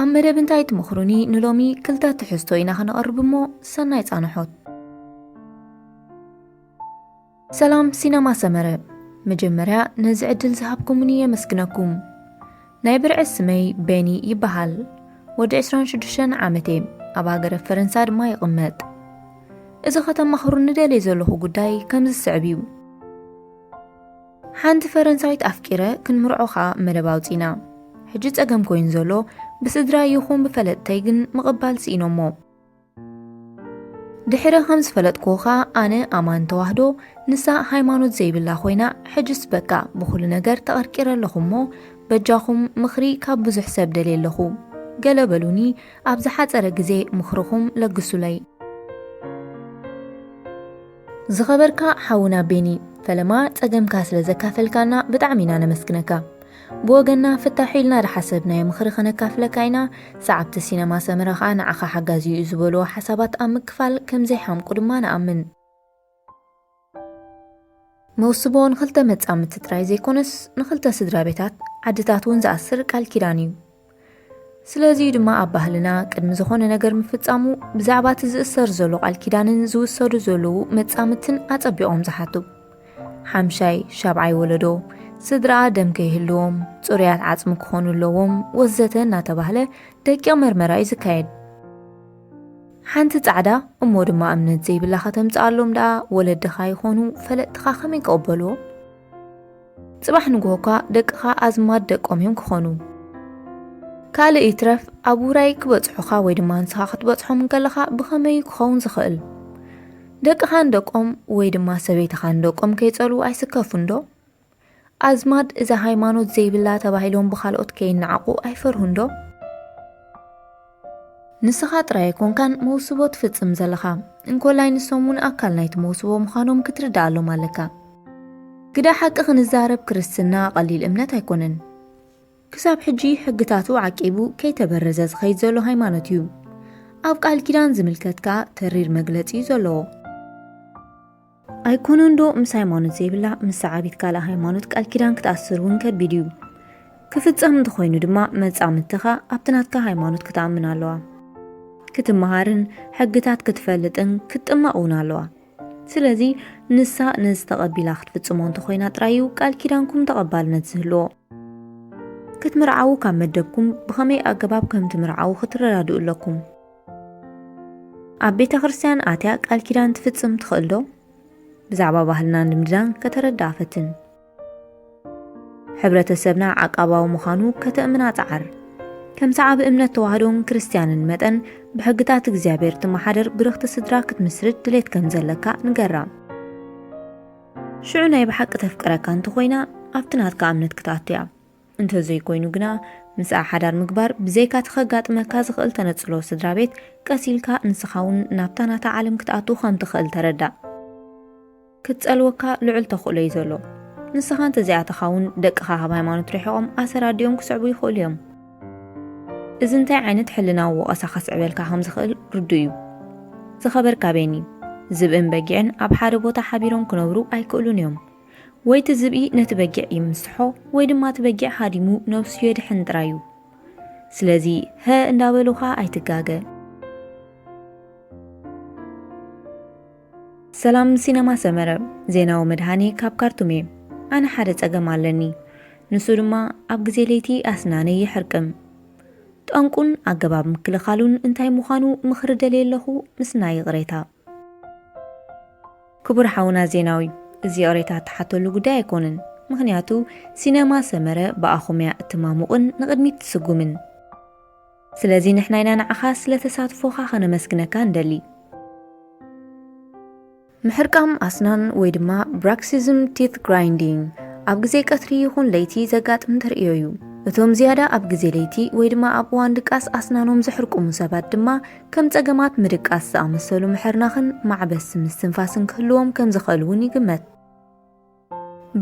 ኣብ መደብ እንታይ ትመኽሩኒ ንሎሚ ክልተ ትሕዝቶ ኢና ክነቕርብ እሞ ሰናይ ጻንሖት። ሰላም ሲነማ ሰመረ መጀመርያ ነዚ ዕድል ዝሃብኩምኒ የመስግነኩም። ናይ ብርዒ ስመይ ቤኒ ይበሃል። ወዲ ዕስራን ሽዱሽተን ዓመት እየ። ኣብ ሃገረ ፈረንሳ ድማ ይቕመጥ። እዚ ከተማኽሩኒ ደልየ ዘለኹ ጉዳይ ከምዚ ዝስዕብ እዩ። ሓንቲ ፈረንሳዊት ኣፍቂረ ክንምርዖ ከኣ መደብ ኣውጺና ሕጂ ጸገም ኮይኑ ዘሎ ብስድራይ ይኹን ብፈለጥተይ ግን ምቕባል ስኢኖሞ። ድሕሪ ከም ዝፈለጥክዎ ከኣ ኣነ ኣማን ተዋህዶ ንሳ ሃይማኖት ዘይብላ ኮይና ሕጅስ በቃ ብኹሉ ነገር ተቐርቂረ ኣለኹ እሞ በጃኹም ምኽሪ ካብ ብዙሕ ሰብ ደልየ ኣለኹ ገለ በሉኒ ኣብ ዝሓጸረ ግዜ ምኽርኹም ለግሱለይ። ዝኸበርካ ሓውና ቤኒ ፈለማ ጸገምካ ስለ ዘካፈልካና ብጣዕሚ ኢና ነመስግነካ። ብወገንና ፍታሑ ኢልና ዝሓሰብናዮ ምኽሪ ከነካፍለካ ኢና፣ ሰዓብቲ ሲነማ ሰመረ ከኣ ንዓኻ ሓጋዚ እዩ ዝበልዎ ሓሳባት ኣብ ምክፋል ከምዘይሓምቁ ድማ ንኣምን። መውስቦ ንኽልተ መጻምድቲ ጥራይ ዘይኮነስ ንኽልተ ስድራቤታት ዓድታት እውን ዝኣስር ቃል ኪዳን እዩ። ስለዚ'ዩ ድማ ኣብ ባህልና ቅድሚ ዝኾነ ነገር ምፍጻሙ ብዛዕባ እቲ ዝእሰር ዘሎ ቃል ኪዳንን ዝውሰዱ ዘለዉ መጻምድትን ኣጸቢቖም ዝሓቱ። ሓምሻይ፣ ሻብዓይ ወለዶ ስድራኣ ደም ከይህልዎም፣ ጽሩያት ዓጽሚ ክኾኑ ኣለዎም ወዘተ እናተባህለ ደቂቕ መርመራ'ዩ ዝካየድ። ሓንቲ ጻዕዳ እሞ ድማ እምነት ዘይብላ ከተምጽኣሎም ደኣ ወለድኻ ይኾኑ ፈለጥትኻ ከመይ ክቕበልዎ? ጽባሕ ንግሆ እኳ ደቅኻ ኣዝማድ ደቆም እዮም ክኾኑ። ካልእ ይትረፍ ኣብ ውራይ ክበጽሑኻ ወይ ድማ ንስኻ ክትበጽሖም እንከለኻ ብኸመይ እዩ ክኸውን ዝኽእል? ደቅኻ ንደቆም ወይ ድማ ሰበይትኻ ንደቆም ከይጸልዉ ኣይስከፉንዶ? ኣዝማድ እዛ ሃይማኖት ዘይብላ ተባሂሎም ብኻልኦት ከይነዓቑ ኣይፈርሁንዶ? ንስኻ ጥራይ ኣይኮንካን መውስቦ ትፍጽም ዘለኻ፣ እንኮላይ ንሶም እውን ኣካል ናይቲ መውስቦ ምዃኖም ክትርድኣሎም ኣለካ። ግዳ ሓቂ ክንዛረብ ክርስትና ቀሊል እምነት ኣይኮነን። ክሳብ ሕጂ ሕግታቱ ዓቂቡ ከይተበረዘ ዝኸይድ ዘሎ ሃይማኖት እዩ። ኣብ ቃል ኪዳን ዝምልከት ከኣ ተሪር መግለጺ እዩ ዘለዎ። ኣይኮነን ዶ ምስ ሃይማኖት ዘይብላ ምስ ሰዓቢት ካልእ ሃይማኖት ቃል ኪዳን ክትኣስር እውን ከቢድ እዩ። ክፍጸም እንተኾይኑ ድማ መጻምድትኻ ኣብቲ ናትካ ሃይማኖት ክትኣምን ኣለዋ። ክትመሃርን ሕግታት ክትፈልጥን ክትጥመቕ እውን ኣለዋ። ስለዚ ንሳ ነዚ ተቐቢላ ክትፍጽሞ እንተኾይና ጥራይ እዩ ቃል ኪዳንኩም ተቐባልነት ዝህልዎ። ክትምርዓዉ ካብ መደብኩም ብኸመይ ኣገባብ ከም ትምርዓዉ ክትረዳድኡ ኣለኩም። ኣብ ቤተ ክርስቲያን ኣትያ ቃል ኪዳን ትፍጽም ትኽእል ዶ? ብዛዕባ ባህልና ልምድናን ከተረድኣ ፈትን። ሕብረተሰብና ዓቃባዊ ምዃኑ ከተእምና ጸዓር። ከም ሰዓቢ እምነት ተዋህዶን ክርስትያንን መጠን ብሕግታት እግዚኣብሔር ትመሓደር ብርኽቲ ስድራ ክትምስርት ድሌት ከም ዘለካ ንገራ። ሽዑ ናይ ብሓቂ ተፍቅረካ እንተኾይና ኣብቲ ናትካ እምነት ክትኣቱ እያ። እንተዘይኮይኑ ግና ምስኣ ሓዳር ምግባር ብዘይካ'ቲ ከጋጥመካ ዝኽእል ተነጽሎ ስድራቤት፣ ቀስ ኢልካ ንስኻ'ውን ናብታ ናታ ዓለም ክትኣቱ ከም ትኽእል ተረዳእ። ክትጸልወካ ልዑል ተኽእሎ'ዩ ዘሎ። ንስኻ እንተዘይኣተኻ'ውን ደቅኻ ካብ ሃይማኖት ርሒቖም ኣሰር ኣዲኦም ክስዕቡ ይኽእሉ እዮም። እዚ እንታይ ዓይነት ሕልናዊ ወቐሳ ከስዕበልካ ከም ዝኽእል ርዱእ'ዩ። ዝኸበርካ ቤኒ፣ ዝብእን በጊዕን ኣብ ሓደ ቦታ ሓቢሮም ክነብሩ ኣይክእሉን እዮም። ወይ እቲ ዝብኢ ነቲ በጊዕ ይምስሖ ወይ ድማ እቲ በጊዕ ሃዲሙ ነብሱ የድሕን ጥራይ እዩ። ስለዚ ሀ እንዳበሉኻ ኣይትጋገ። ሰላም ሲነማ ሰመረ ዜናዊ መድሃኔ ካብ ካርቱም እየ ኣነ ሓደ ጸገም ኣለኒ ንሱ ድማ ኣብ ግዜ ለይቲ ኣስናነይ ይሕርቅም ጠንቁን ኣገባብ ምክልኻሉን እንታይ ምዃኑ ምኽሪ ደልየ ኣለኹ ምስናይ ይቕሬታ። ክቡር ሓውና ዜናዊ እዚ ይቕሬታ እትሓተሉ ጉዳይ ኣይኮነን ምኽንያቱ ሲነማ ሰመረ ብኣኹም እያ እትማሙቕን ንቕድሚት ትስጉምን ስለዚ ንሕና ኢና ንዓኻ ስለ ተሳትፎኻ ከነመስግነካ ንደሊ። ምሕርቃም ኣስናን ወይ ድማ Bruxism Teeth Grinding ኣብ ግዜ ቀትሪ ይኹን ለይቲ ዘጋጥም ተርእዮ እዩ። እቶም ዝያዳ ኣብ ግዜ ለይቲ ወይ ድማ ኣብ እዋን ድቃስ ኣስናኖም ዘሕርቁሙ ሰባት ድማ ከም ጸገማት ምድቃስ ዝኣመሰሉ ምሕርናኽን ማዕበስ ምስትንፋስን ክህልዎም ከም ዝኽእል እውን ይግመት።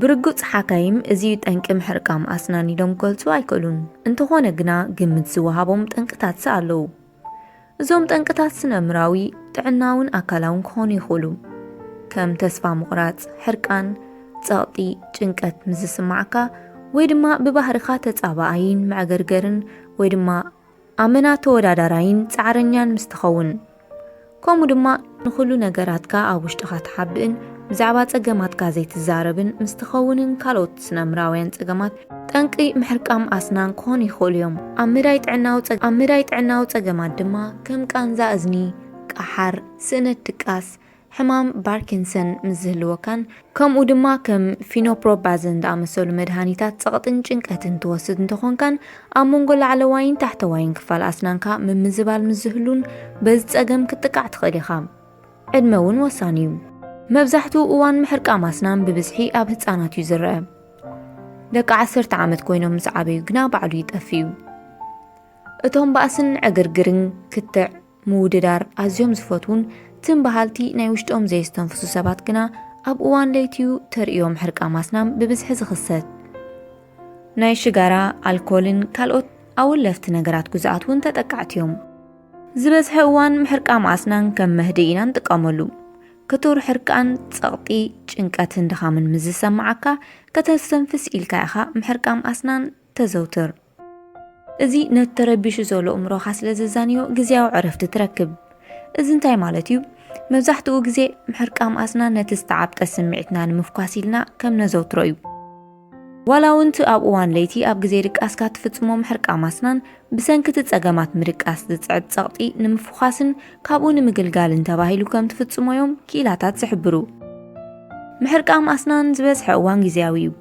ብርግጽ ሓካይም እዚ እዩ ጠንቂ ምሕርቃም ኣስናን ኢሎም ክገልጹ ኣይክእሉን፣ እንተኾነ ግና ግምት ዝወሃቦም ጠንቅታትሲ ኣለዉ። እዞም ጠንቅታት ስነኣእምሮኣዊ፣ ጥዕናውን ኣካላውን ክኾኑ ይኽእሉ፣ ከም ተስፋ ምቑራጽ፣ ሕርቃን፣ ጸቕጢ፣ ጭንቀት ምስ ዝስምዓካ፣ ወይ ድማ ብባህርኻ ተጻባኣይን መዕገርገርን ወይ ድማ ኣመና ተወዳዳራይን ጻዕረኛን ምስ ትኸውን፣ ከምኡ ድማ ንኹሉ ነገራትካ ኣብ ውሽጥኻ ትሓብእን ብዛዕባ ጸገማትካ ዘይትዛረብን ምስ ትኸውንን ካልኦት ስነ-ኣእምሮኣውያን ጸገማት ጠንቂ ምሕርቃም ኣስናን ክኾኑ ይኽእሉ እዮም። ኣብ መዳይ ጥዕናዊ ጸገማት፣ ኣብ መዳይ ጥዕናዊ ጸገማት ድማ ከም ቃንዛ እዝኒ፣ ቃሓር፣ ስእነት ድቃስ፣ ሕማም ባርኪንሰን ምስ ዝህልወካን ከምኡ ድማ ከም ፊኖፕሮባዘን ዝኣመሰሉ መድሃኒታት ጸቕጥን ጭንቀትን ትወስድ እንተኾንካን ኣብ መንጎ ላዕለዋይን ታሕተዋይን ክፋል ኣስናንካ ምምዝባል ምስ ዝህሉን በዚ ጸገም ክትጥቃዕ ትኽእል ኢኻ። ዕድመ እውን ወሳኒ እዩ። መብዛሕትኡ እዋን ምሕርቃም ኣስናን ብብዝሒ ኣብ ህጻናት እዩ ዝረኣ። ደቂ ዓሰርተ ዓመት ኮይኖም ምስ ዓበዩ ግና ባዕሉ ይጠፍእ እዩ። እቶም ባእስን ዕግርግርን ክትዕ ምውድዳር ኣዝዮም ዝፈትዉን ትም በሃልቲ ናይ ውሽጦም ዘየስተንፍሱ ሰባት ግና ኣብ እዋን ለይቲ'ዩ ተርእዮም ሕርቃም ኣስናም ብብዝሒ ዝኽሰት። ናይ ሽጋራ፣ ኣልኮልን ካልኦት ኣወለፍቲ ነገራት ግዙኣት እውን ተጠቃዕቲ'ዮም። ዝበዝሐ እዋን ምሕርቃም ኣስናን ከም መህድኢ ኢና ንጥቀመሉ። ክቱር ሕርቃን፣ ጸቕጢ፣ ጭንቀትን ድኻምን ምስ ዝሰመዓካ ከተስተንፍስ ኢልካ ኢኻ ምሕርቃም ኣስናን ተዘውትር። እዚ ነቲ ተረቢሹ ዘሎ እምሮኻ ስለ ዘዛንዮ ግዜያዊ ዕረፍቲ ትረክብ። እዚ እንታይ ማለት እዩ? መብዛሕትኡ ግዜ ምሕርቃም ኣስናን ነቲ ዝተዓብጠ ስምዒትና ንምፍኳስ ኢልና ከም ነዘውትሮ እዩ። ዋላ እውን እቲ ኣብ እዋን ለይቲ ኣብ ግዜ ድቃስካ እትፍጽሞ ምሕርቃም ኣስናን፣ ብሰንኪ እቲ ጸገማት ምድቃስ ዝጽዕብ ጸቕጢ ንምፍዃስን ካብኡ ንምግልጋልን ተባሂሉ ከም ትፍጽሞ እዮም ክኢላታት ዝሕብሩ። ምሕርቃም ኣስናን ዝበዝሐ እዋን ግዜያዊ እዩ።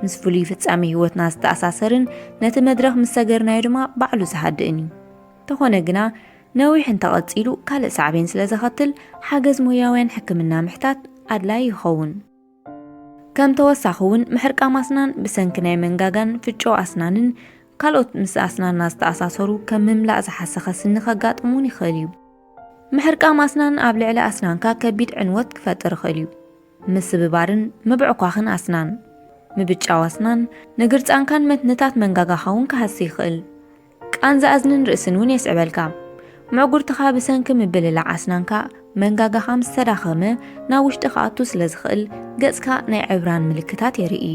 ምስ ፍሉይ ፍጻሜ ህይወትና ዝተኣሳሰርን ነቲ መድረኽ ምስ ሰገርናዮ ድማ ባዕሉ ዝሃድእን እዩ። እንተኾነ ግና ነዊሕ እንተቐጺሉ ካልእ ሳዕቤን ስለ ዘኸትል ሓገዝ ሞያውያን ሕክምና ምሕታት ኣድላይ ይኸውን። ከም ተወሳኺ እውን ምሕርቃም ኣስናን ብሰንኪ ናይ መንጋጋን ፍጮ ኣስናንን ካልኦት ምስ ኣስናንና ዝተኣሳሰሩ ከም ምምላእ ዝሓሰኸ ስኒ ከጋጥም እውን ይኽእል እዩ። ምሕርቃም ኣስናን ኣብ ልዕሊ ኣስናንካ ከቢድ ዕንወት ክፈጥር ይኽእል እዩ። ምስብባርን ምብዕኳኽን ኣስናን፣ ምብጫው ኣስናን፣ ንግርጻንካን መትንታት መንጋጋኻ እውን ክሃሲ ይኽእል። ቃንዛ እዝንን ርእስን እውን የስዕበልካ። ምዕጉርትኻ ብሰንኪ ምብልላዕ ኣስናንካ መንጋጋኻ ምስ ተዳኸመ ናብ ውሽጢ ክኣቱ ስለ ዝኽእል ገጽካ ናይ ዕብራን ምልክታት የርኢ።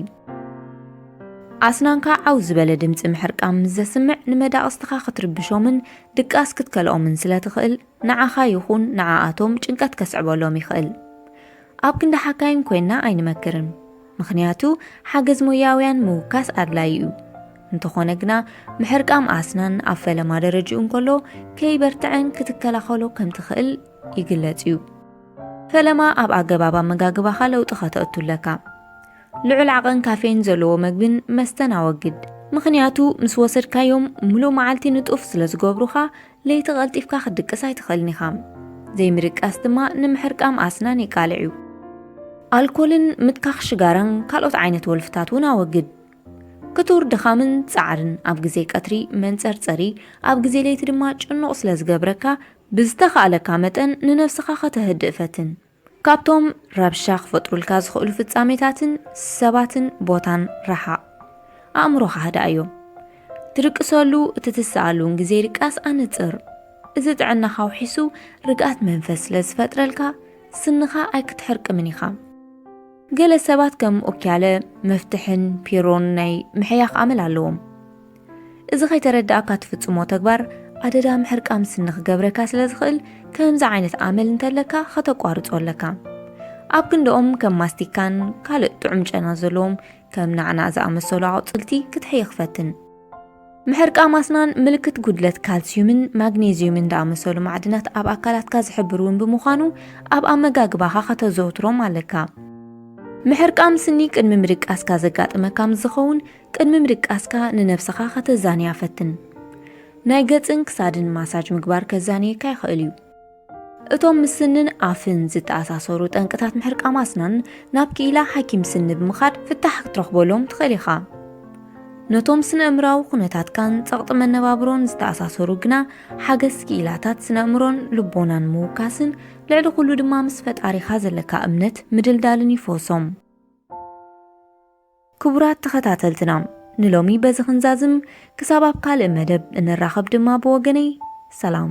ኣስናንካ ዓው ዝበለ ድምጺ ምሕርቃም ምስ ዘስምዕ ንመዳቕስትኻ ክትርብሾምን ድቃስ ክትከልኦምን ስለ ትኽእል፣ ንዓኻ ይኹን ንዓኣቶም ጭንቀት ከስዕበሎም ይኽእል። ኣብ ክንዲ ሓካይም ኮይንና ኣይንመክርን፣ ምኽንያቱ ሓገዝ ሞያውያን ምውካስ ኣድላዪ እዩ። እንተኾነ ግና ምሕርቃም ኣስናን ኣብ ፈለማ ደረጅኡ እንከሎ ከይበርትዐን ክትከላኸሎ ከም ትኽእል ይግለጽ እዩ። ፈለማ ኣብ ኣገባብ ኣመጋግባኻ ለውጢ ከተእቱ ኣለካ። ልዑል ዓቐን ካፌን ዘለዎ መግብን መስተን ኣወግድ፣ ምኽንያቱ ምስ ወሰድካዮም ምሉእ መዓልቲ ንጡፍ ስለ ዝገብሩኻ ለይቲ ቀልጢፍካ ክትድቅስ ኣይትኽእልን ኢኻ። ዘይምድቃስ ድማ ንምሕርቃም ኣስናን የቃልዕ እዩ። ኣልኮልን ምትካኽ ሽጋራን ካልኦት ዓይነት ወልፍታት እውን ኣወግድ። ክቱር ድኻምን ጻዕርን ኣብ ግዜ ቀትሪ መንጸርጸሪ፣ ኣብ ግዜ ለይቲ ድማ ጭኑቕ ስለ ዝገብረካ፣ ብዝተኻእለካ መጠን ንነብስኻ ከተህድእ ፈትን። ካብቶም ረብሻ ክፈጥሩልካ ዝኽእሉ ፍጻሜታትን ሰባትን ቦታን ረሓቕ። ኣእምሮኻ ኣህድኣዮ። ትድቅሰሉ እቲ ትስኣሉን ግዜ ድቃስ ኣነጽር። እዚ ጥዕናኻ ኣውሒሱ ርግኣት መንፈስ ስለ ዝፈጥረልካ ስንኻ ኣይክትሕርቅምን ኢኻ። ገለ ሰባት ከም ኦኪያለ፣ መፍትሕን ፒሮን ናይ ምሕያኽ ኣመል ኣለዎም። እዚ ከይተረዳእካ ትፍጽሞ ተግባር ኣደዳ ምሕርቃም ስኒ ክገብረካ ስለ ዝኽእል ከምዚ ዓይነት ኣመል እንተለካ ከተቋርጾ ኣለካ። ኣብ ክንድኦም ከም ማስቲካን ካልእ ጥዑም ጨና ዘለዎም ከም ናዕናዕ ዝኣመሰሉ ኣቑጽልቲ ክትሕይኽ ፈትን። ምሕርቃም ኣስናን ምልክት ጉድለት ካልስዩምን ማግኔዝዩምን ዝኣመሰሉ ማዕድናት ኣብ ኣካላትካ ዝሕብር እውን ብምዃኑ ኣብ ኣመጋግባኻ ከተዘውትሮም ኣለካ። ምሕርቃም ስኒ ቅድሚ ምድቃስካ ዘጋጥመካ ምስ ዝኸውን ቅድሚ ምድቃስካ ንነብስኻ ከተዛንያ ፈትን። ናይ ገጽን ክሳድን ማሳጅ ምግባር ከዛንየካ ይኽእል እዩ። እቶም ምስ ስንን ኣፍን ዝተኣሳሰሩ ጠንቅታት ምሕርቃም ኣስናን ናብ ክኢላ ሓኪም ስኒ ብምኻድ ፍታሕ ክትረኽበሎም ትኽእል ኢኻ። ነቶም ስነ-እምራዊ ኩነታትካን ጸቕጢ መነባብሮን ዝተኣሳሰሩ ግና ሓገዝ ክኢላታት ስነ-እምሮን ልቦናን ምውካስን ልዕሊ ኩሉ ድማ ምስ ፈጣሪኻ ዘለካ እምነት ምድልዳልን ይፍወሶም። ክቡራት ተኸታተልትና ንሎሚ በዚ ክንዛዝም ክሳብ ኣብ ካልእ መደብ እንራኸብ ድማ ብወገነይ ሰላም።